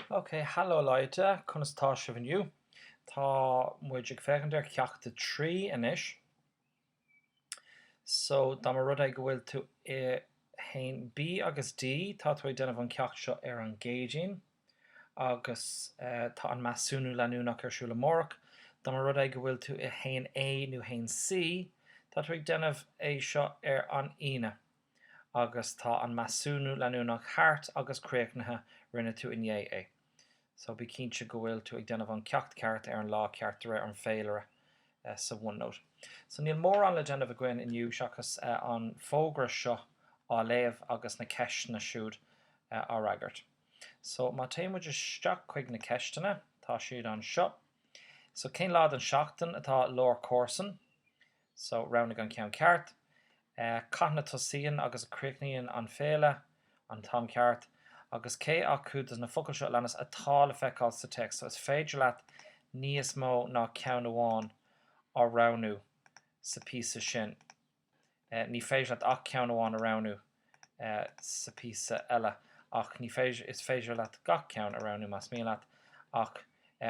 Ok, hallo Leute, conas tá sibh inniu? Tá muid ag féachaint ar cheacht a trí anois. So, dá mba rud é go bhfuil tú in haon B agus D, tá tú ag déanamh an ceacht seo ar an gCéadaoin, agus tá an measúnú leanúnach ar siúl amárach. Dá mba rud é go bhfuil tú i haon A nó haon C, tá tú ag déanamh é seo ar an Aoine. agus tá an measúnú leanúnach thart agus críochnaithe, rinne tú inné é so bí cinnte go bhfuil tú ag déanamh an ceacht ceart ar an lá ceart de réir an féilire sa OneNote. So níl mórán le déanamh againn inniu seachas an fógra seo á léamh agus na ceisteanna siúd á fhreagairt. So má téann muid isteach chuig na ceisteanna, tá siad anseo. So cén lá den tseachtain atá lá na gcomharsan? So, roghnaigh an ceann ceart. Cathain a tosaíonn agus a chríochnaíonn an féile? An t-am ceart. Agus cé acu dos na focail seo a leanas atá le feiceáil sa téacs? So, is féidir leat níos mó ná ceann amháin a roghnú sa píosa sin. Ní féidir leat ach ceann amháin a roghnú. sa píosa eile ach ní féidir, is féidir leat gach ceann a roghnú más mian leat ach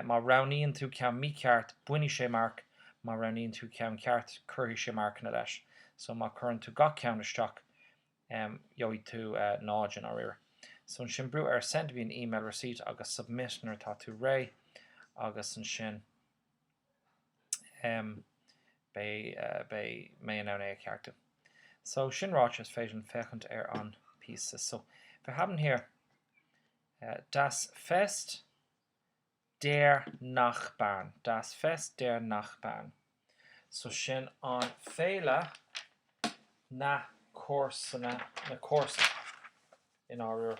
má roghnaíonn tú ceann mícheart bainfidh sé marc, má roghnaíonn tú ceann ceart cuirfidh sé marcanna leis so má cuireann tú gach ceann isteach gheobhaidh tú 0 i ndáiríre. So ansin brúigh ar Send me an email receipt agus Submit nuair atá tú réidh agus ansin. beidh mé in ann é a cheartú. So, sin ráite, is féidir linn féachaint ar an píosa. So, wir haben hier Das Fest der Nachbarn, Das Fest der Nachbarn. So, sin an féile na comharsana, na comharsan i ndáiríre.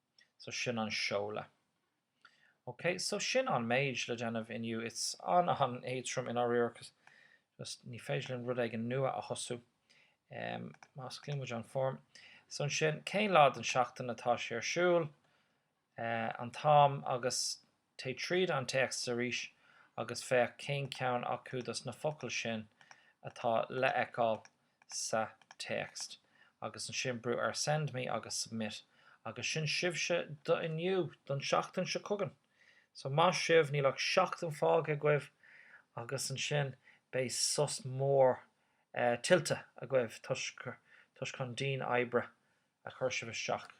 So sin an seoladh. Ok, so sin an méid le déanamh inniu. Is an an-éadrom i ndáiríre just ní féidir linn rud éigin nua a thosú. Em, má osclaíonn muid an form. So ansin, cén lá den seachtain atá sé ar siúl, eh, an t-am agus Téigh tríd an téacs arís agus féach cén ceann acu dos na focail sin atá le fheiceáil sa téacs agus ansin brúigh ar Send Me agus Submit agus sin sibhse do inniu, don tseachtain seo chugainn. So maith sibh, níl ach seachtain fágtha agaibh agus ansin beidh sos mór tuillte agaibh toisc an dian oibre a chuir sibh isteach.